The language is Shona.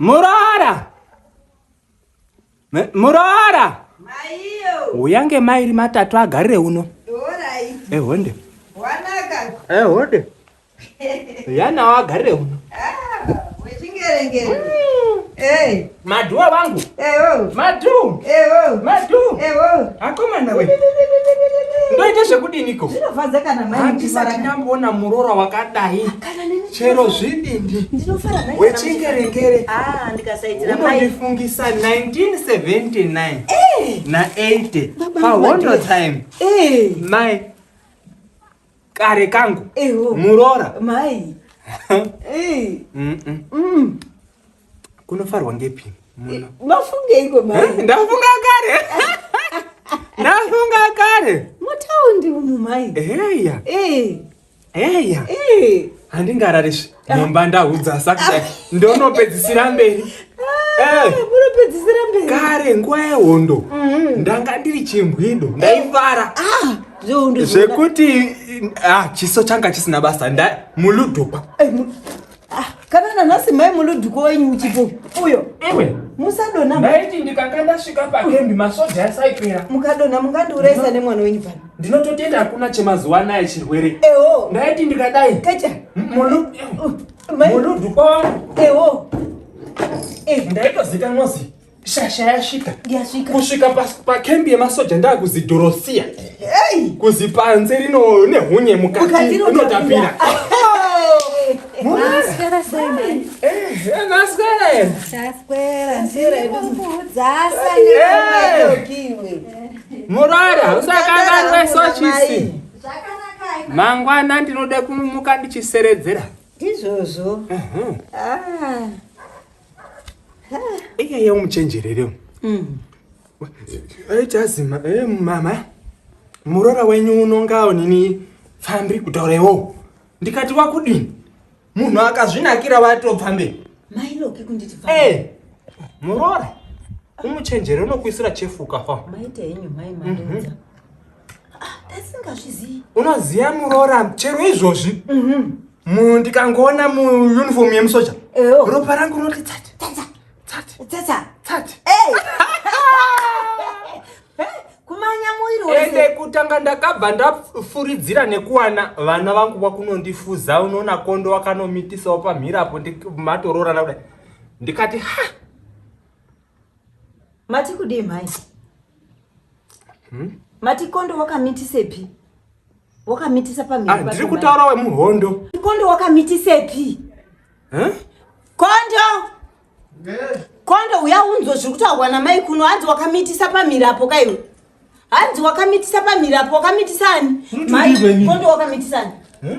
Murara. Murara. Maiyo. Uyange mairi matatu agarire uno. Alright. Ehonde. Wanaka. Ehonde. ya nawo agarire uno madhuwa vangu madhu madhu akomana we ndoita zvekudiniko handisati ndamboona muroora wakadai chero zvidindi wechingerengere ah, unondifungisa 1979 na 80 pahondo time mai kare kangu Eho. muroora mai Eh, Mm, mm. mm. kunofarwa ngepi muno mafungeiko mai ndafunga kare ndafunga kare mutaundi umu mai heya Eh, heya eh. handingarari svi mumba ndahudza sakudai ndonopedzisira mberi ah, eh. munopedzisira mberi kare nguva yehondo mhm. ndanga ndiri chimbwido ndaifara ah, zvekuti ah, chiso changa chisina basa muludhupa eh, kana nanhasi mai muludhuko wenyu uchipo uyo iwe musadonha ndaiti ndikanga ndasvika pakembi masoja asaipera mukadonha mungandiurayisa nemwana wenyu pano ndinototenda hakuna chemazuva anaya chirwere ewo ndaiti ndikadai kacha munudhu kwawangu ewo eh. ndaitozikanwa zi shasha yasvika kusvika pakembi yemasoja ndakuzidhorosiya kuzipanze rino nehunye mukati inotapira Naswera sei? Eh, naswera ena. Naswera, naswera. Ndiri kukudzasa. Eh. Murwari hausakanganwe sochisi. Mangwana ndinoda kumuka ndichiseredzera. Ndizvozvo. Mhm. Ah. Iya yau muchenjerere. Mhm. Aitazima eh mama. Murora wenyu unongawo nini pfambi kutaura iwo. Ndikati wakudini? munhu akazvinakira vatobva mberi mailoki kunditi eh, muroora umuchenjere unokuisira chefu ukafa maita henyu mai mandoza tasingazvizivi mhm. ah, unoziva muroora chero izvozvi mhm. ndikangoona muunifomu yemusoja ropa rangu rinoti tsati tsatsa tsatsa hey. kumanya muiri wese kutanga ndakabva ndafuridzira nekuwana vana vangu kwakunondifuza unoona kondo wakanomitisawo pamhiri apo matoroorana kudai ndikati ha mati kudii mhai hmm? mati kondo wakamitisepi wakamitisa pamhiri ah, ndiri kutaura wemuhondo kondo wakamitisepi huh? kondo yeah. kondo uya unzwa zviri kutaurwa namai kuno hanzi wakamitisa pamhiri apo kaiwe hanzi wakamitisa pamhiri apo wakamitisa ani kondo wakamitisa ani huh?